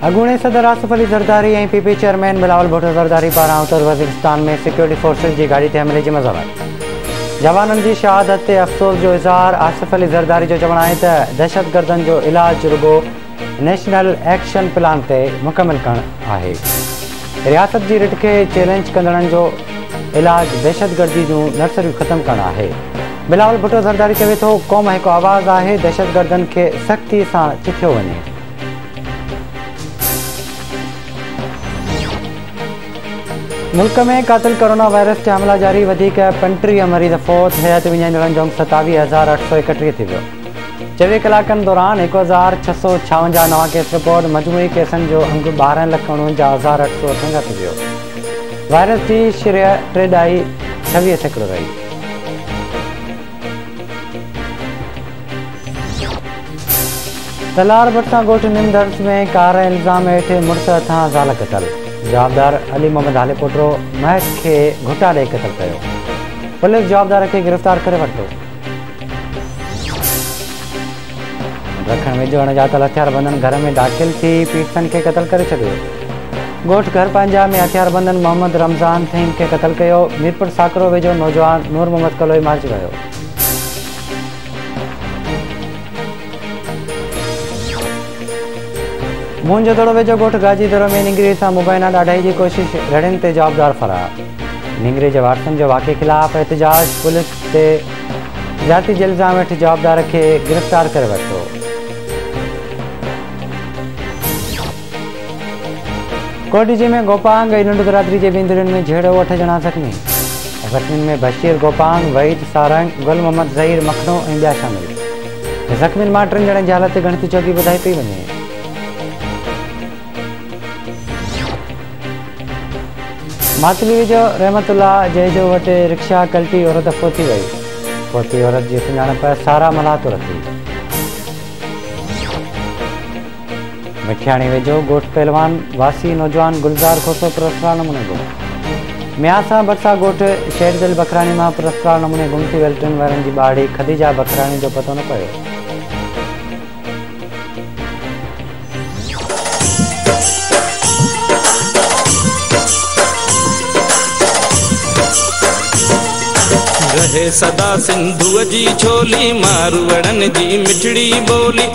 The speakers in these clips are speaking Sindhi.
اڳوڻي صدر Asif Ali Zardari ۽ P P chairman Bilawal Bhutto Zardari پاران اتر وزيرستان ۾ سيڪيورٽي فورسز جي گاڏي تي حملي جي مذمت، جوانن جي شهادت تي افسوس جو اظهار، آصف علي زرداري جو چوڻ آهي ته دهشتگردن جو علاج رڳو نيشنل ايڪشن پلان تي مڪمل ڪرڻ آهي، رياست جي رٽ کي چئلينج ڪندڙن جو علاج دهشتگردي جون نرسريون ختم ڪرڻ آهي، بلاول ڀٽو زرداري چوي ٿو قوم هڪ آواز آهي، دهشتگردن کي سختي سان چٿيو وڃي. ملڪ ۾ قاتل ڪورونا وائرس جا حملا جاري، وڌيڪ پنٽيهه مريض فوت، حياتي وڃائيندڙن جو انڪ ستاويهه هزار اٺ سؤ ايڪٽيهه ٿي ويو. چويهه ڪلاڪن دوران هڪ هزار ڇهه سؤ ڇاونجاهه نوان ڪيس رپورٽ، مجموعي ڪيسن جو انڪ ٻارهن لک اڻونجاهه هزار اٺ سؤ اٺونجاهه ٿي ويو. وائرس جي شرح ٽي ڏهائي ڇويهه سيڪڙو رهي. تلار ڀٽسان ڳوٺ نيم درس ۾ ڪار ۽ الزام هيٺ مڙس هٿان زال قتل، جوابدار علي محمد هاليپوٽو مهڪ کي گهٽا ڏئي قتل ڪيو، پوليس جوابدار کي گرفتار ڪري ورتو. رکڻ ويجهو اڻڄاتل هٿياربندن گهر ۾ داخل ٿي پيڙتن کي قتل ڪري ڇڏيو، ڳوٺ گهر پنهنجا ۾ هٿياربندن محمد رمضان ٿهيم کي قتل ڪيو، ميرپور ساڪرو ويجهو نوجوان نور محمد ڪلوئي مارجي ويو. موهنجودڙو ويجهو ڳوٺ گاجي دڙو ۾ نينگري سان مبينا ڏاڍائي جي ڪوشش، رڙين تي جوابدار فرار. نينگري جي وارثن جو واقعي خلاف احتجاج، پوليس تي زيادتي جي الزام هيٺ جوابدار کي گرفتار ڪري ورتو. ڪوٽڏيجي ۾ گوپانگ ۽ ننڊ برادري جي ٻن ڌرين ۾ جهيڙو، اٺ ڄڻا زخمي. زخمين ۾ بشير گوپانگ، وحيد سارنگ، گل محمد ظهير مکڻو ۽ ٻيا شامل. زخمين مان ٽن ڄڻن جي حالت ڳڻتي چوڳي ٻڌائي پئي وڃي. ماتلي ويجهو رحمت الله جهيجو وٽ رڪشا ڪلٽي عورت فوتي وئي. فوتي عورت جي سڃاڻپ سارا ملاح طور ٿي. مٺياڻي ويجهو ڳوٺ پهلوان واسي نوجوان گلزار کوسو پراسرار نموني گم ميان سان ڀرسان ڳوٺ شيردل بکراڻي مان پراسرار نموني گم ٿي ويل ٽن ورهين جي ٻارڙي خديجه بکراڻي جو پتو نه پيو. رهي سدا سنڌوء جي ڇولي ماروئڙن جي مٺڙي ٻولي.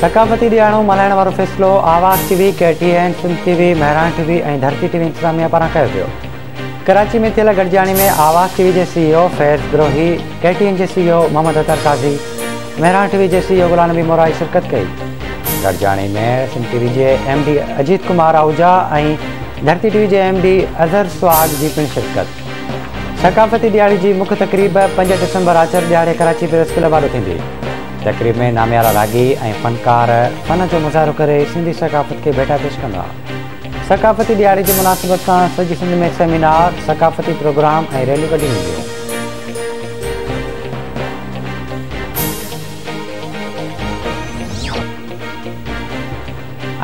ثقافتي ڏيهاڙو ملهائڻ وارو فيصلو Awaz T V, K T N, Sindh T V, Mehran T V ۽ Dharti T V انتظاميا پاران ڪيو ويو. ڪراچي ۾ ٿيل گڏجاڻي ۾ آواز ٽي وي جي C E O Faiz Brohi, K T N جي C E O Muhammad Athar Qazi, Mehran T V جي C E O Ghulam Nabi Morai شرڪت ڪئي. گڏجاڻي ۾ سنڌ ٽي وي جي M D Ajit Kumar Ahuja ۽ Dharti T V جي ايم ڊي اظهر سهاڳ جي پڻ شرڪت. ثقافتي ڏيهاڙي جي مک تقريب پنج ڊسمبر آچر ڏيهاڙي ڪراچي پريس ڪلب آڏو ٿيندي. تقريب ۾ ناميارا راڳي ۽ فنڪار فن جو مظاهرو ڪري سنڌي ثقافت کي ڀيٽا پيش ڪندا. ثقافتي ڏيهاڙي جي مناسبت سان سڄي سنڌ ۾ سيمينار، ثقافتي پروگرام ۽ ريليون ڪڍيون وينديون.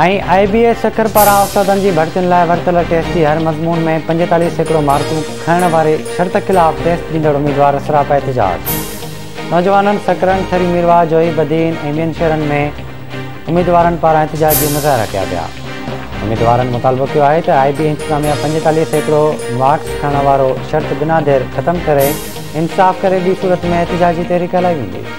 ۽ آء بي ايس سکر پاران استادن جي ڀرتين لاء ورتل ٽيسٽ جي هر مضمون ۾ پنجيتاليهه سيڪڙو مارڪون کنڻ واري شرط خلاف ٽيسٽ ڏيندڙ اميدوار سراپا احتجاج نوجوانن سکرن ٿري ميرواهه جوهي بدين ۽ ٻين شهرن ۾ اميدوارن پاران احتجاجي مظاهرا ڪيا ويا اميدوارن مطالبو ڪيو آهي ته آء بي انتظاميا پنجيتاليهه سيڪڙو مارڪس کڻڻ وارو شرط بنا دير ختم ڪري انصاف ڪري ٻي صورت ۾ احتجاجي تحريڪ هلائي ويندي.